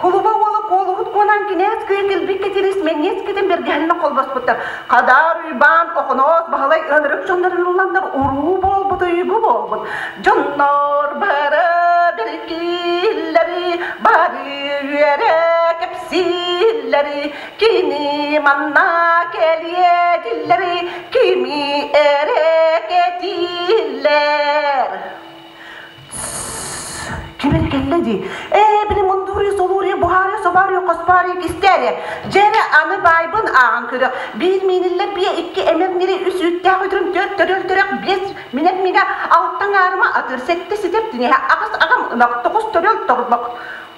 Кулуба уола куолуһут буолан кинээс кыйа кэлбит кэтирис мэҥиэс кэтин бэргэһэннэ холбоспуттар. Хадаар Уйбаан Охоноос Баһылай ылырык дьоннорун ылланнар уруу буолбут уйгу буолбут. Дьоннор бары бэркиллэри бары үөрэ кэпсииллэри кини манна кэлиэ диллэри kimi ere ketiller Кимин кэллэ дии. Ээ, били мундуруй солуруй буһаарыа собаарыа хоспаарыа кистээрэ. Дьэрэ аны баайбын ааҕан көрө. Биир мииниллэ биэ икки эмэм нири үс үүттээх үтүрүн төрт төрөл төрөх биэс минэт минэ алтан аарыма атыр сэттэ ситэр тинэһэ аҕыс аҕам ынах тоҕус төрөл торбох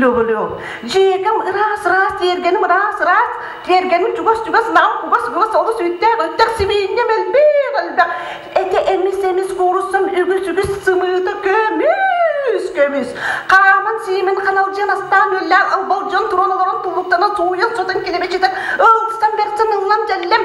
Лөҕөлөөх. Дьиэкэм ыраас-ыраас, тиэргэним ыраас-ыраас, тиэргэним чугас-чугас, нам кугас-кугас олус үүттээх, өттөх сибиинньэ элбэх элбэх. Этэ эмис-эмис кууруссам үгүс-үгүс сымыыта көмүс-көмүс. Хааман-сиимин ханалдьыан астаан үөллээн албалдьан туран олорон туллуктанан сууйан сотон килэмичитэн ылсан берсэн ыллам дьэллэм.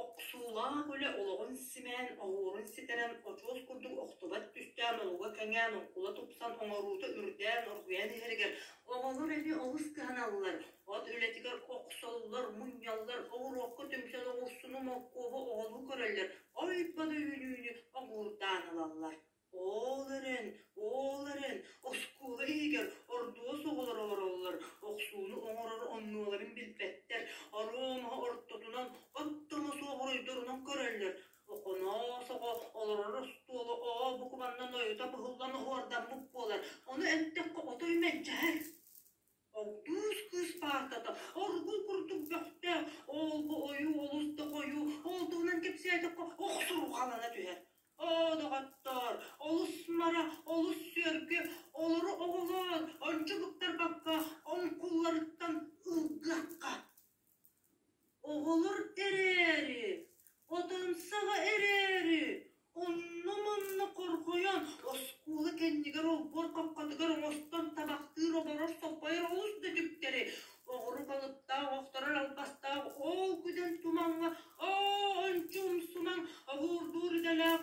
Охсуулаах үлэ олоҕун симээн, оһуорун ситэрэн, очуос курдук охтубат түстээх долуга кэҥээн, уккула тупсан оҥоруута үрдээн, оргуйан иһэригэр оҕолор эбии олус кыһаналлар, от үлэтигэр охсоллор, мунньаллар, оҕуруокка түмсэн оҕурсуну моркуобу оҕолуу көрөллөр, ой бада үүнүүнү огуурдаан ылаллар Ол эрэн, ол эрэн, оскуола иһигэр ордуос оҕолоро олороллор, охсууну оҥорор оннуоларын билбэттэр, оруомаһы ортотунан оттомо суоҕуруйдурунан көрөллөр. Оконоос оҕо олорор остуола оо букубаннан ойута быһыллан оһуордаммыт буолар, ону эттэххэ отой мэлдьэһэр Кыыс кыыс паартата оргул курдук бөхтөөх, оолбу ойуу олус да хойуу, ол туһунан кэпсээтэххэ охсурҕалана түһэр. Оо, доҕоттоор, олус мара, олус сүөргү, олору оҕолоор, ончугуттарбакка оҥкулларыттан ылгыахха. Оҕолор эрээри, Отансаҕа эрээри, онно-манна хорҕойон, оскуола кэннигэр олбуор хапкатыгар оҥостон табахтыыр, оборор, соппойор олус да түктэри, оҕурук алыптаах, охторор албастаах, ол күдэн тумаҥҥа оончумсумаҥ, обуурдуур идэлээх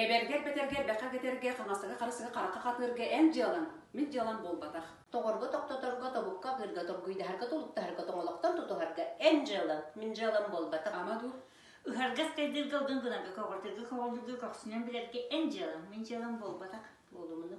Эбэргэр-бэтэргэ элбэххэ кэтэргэ, хаҥасыга-харысыга харахха хатыырга эн дьыалаҥ, мин дьыалам буолбатах. Тоҕорго-тохтоторго, тобукка-ырыырга, торгуйдаһарга-толуктаһарга, тоҥолохтон тутуһарга эн дьыалаҥ, мин дьыалам буолбатах. Ама дуу, ыһарга-скайдыырга, ылгын гынарга, көҕөртөргө-көҕөҥнөргө көхсүнэн билэргэ эн дьыалаҥ, мин дьыалам буолбатах, буолумуну.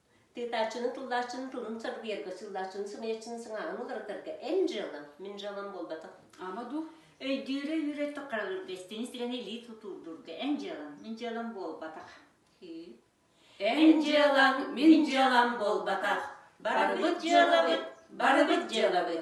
Тыытааччыны, тыллааччыны, тылын сарбыйарга, сыыллааччыны, сымыйаччыны сыҥааҕын уларытарга эн дьыалаҥ, мин дьыалам буолбатах. Ама дуу, өйдүүрэ-үөрэ таххаҕыгар эстэҥи сирэни илии тутуурдуурга эн дьыалаҥ, мин дьыалам буолбатах. Эн дьыалаҥ, мин дьыалам буолбатах. Барбыт дьыалабыт, барбыт дьыалабыт,